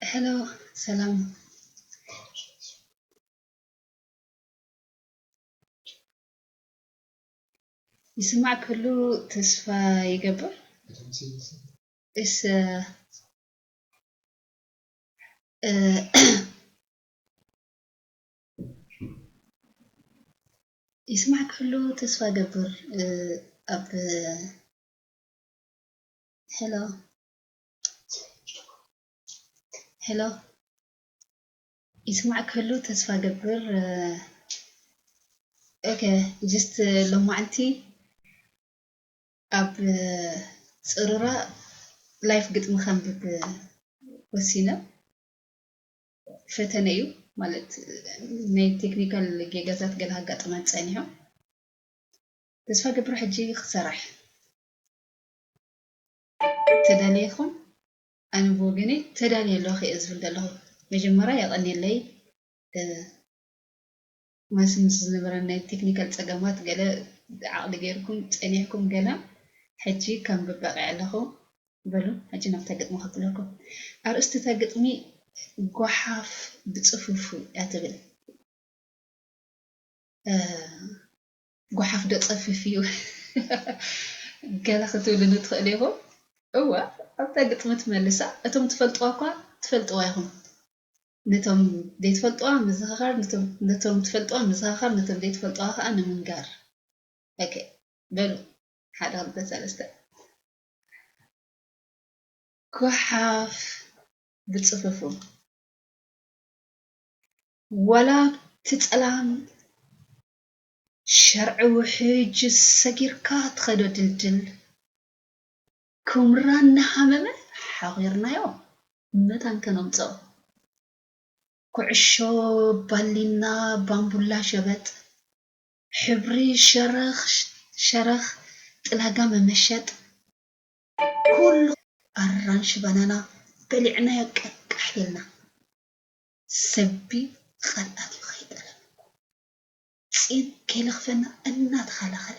Hello, ሰላም ይስማዕ ክሉ ተስፋ ይገብር እስ ይስማዕ ክህሉ ተስፋ ገብር ኣብ ሄሎ ሄሎ ይስማዕ ክህሉ ተስፋ ገብር ኦኬ ጅስት ሎማዓንቲ ኣብ ፅሩራ ላይፍ ግጥሚ ከንብብ ወሲነ ፈተነ እዩ ማለት ናይ ቴክኒካል ጌጋታት ገለ ኣጋጥማት ፀኒሖም ተስፋ ገብረ ሕጂ ክሰራሕ ተዳሊኹም ኣነ ብወገነይ ተዳልየ ኣለኹ እየ ዝብል ዘለኹ መጀመርያ የቐኒለይ ማሲ ምስ ዝነበረን ናይ ቴክኒካል ጸገማት ገለ ዓቕሊ ጌርኩም ጸኒሕኩም ገለ ሕጂ ከንብብ በቒዐ ኣለኹ። በሉ ሕጂ ናብታ ግጥሚ ከብለኩም። ኣርእስቲ እታ ግጥሚ ጎሓፍ ብጽፉፉ እያ ትብል። ጎሓፍዶ ጸፍፍ እዩ ገለ ክትብሉኒ ትኽእሉ ኢኹም። እወ ኣብታ ግጥሚ ትመልሳ እቶም ትፈልጥዋ'ኳ ትፈልጥዋ ኢኹም። ነቶም ዘይትፈልጥዋ ምዝኽኻር ነቶም ትፈልጥዋ ምዝኻኻር ነቶም ዘይትፈልጥዋ ከኣ ንምንጋር ኦኬ በሉ ሓደ ክልተ ሰለስተ ጎሓፍ ብጽፍፉ ወላ ኣብቲ ጸላም ሸርዒ ውሕጅ ሰጊርካ ትኸዶ ድልድል ኩምራ እናሃመመ ሓቚርናዮ መታን ከነምጽኦ። ኩዕሾ ባሊና ባምቡላ ሸበጥ፣ ሕብሪ ሸረኽ ሸረኽ ጥላጋ መመሸጥ፣ ኩሉ ኣራንሺ ባናና በሊዕናዮ ቀቃሕ ኢልና። ሰቢ ቓልኣት'ዩ ከይጠለመ ጺን ከይለኽፈና እናተኸላኸለ።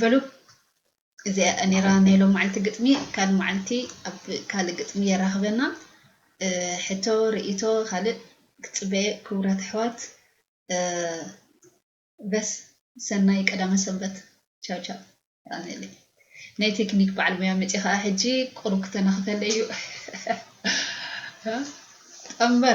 በሉ እዚኣ ኔራ ናይ ሎማዓልቲ ግጥሚ ካልእ ማዓልቲ ኣብ ካልእ ግጥሚ የራክበና ሕቶ ርእይቶ ካልእ ክጽበየ ክቡራት ኣሕዋት በስ ሰናይ ቀዳመ ሰንበት ቻው ቻው ኣሜለይ ናይ ቴክኒክ በዓል ሙያ መፂ ከዓ ሕጂ ቁሩብ ክተናኽፈለይ እዩ ጠምበር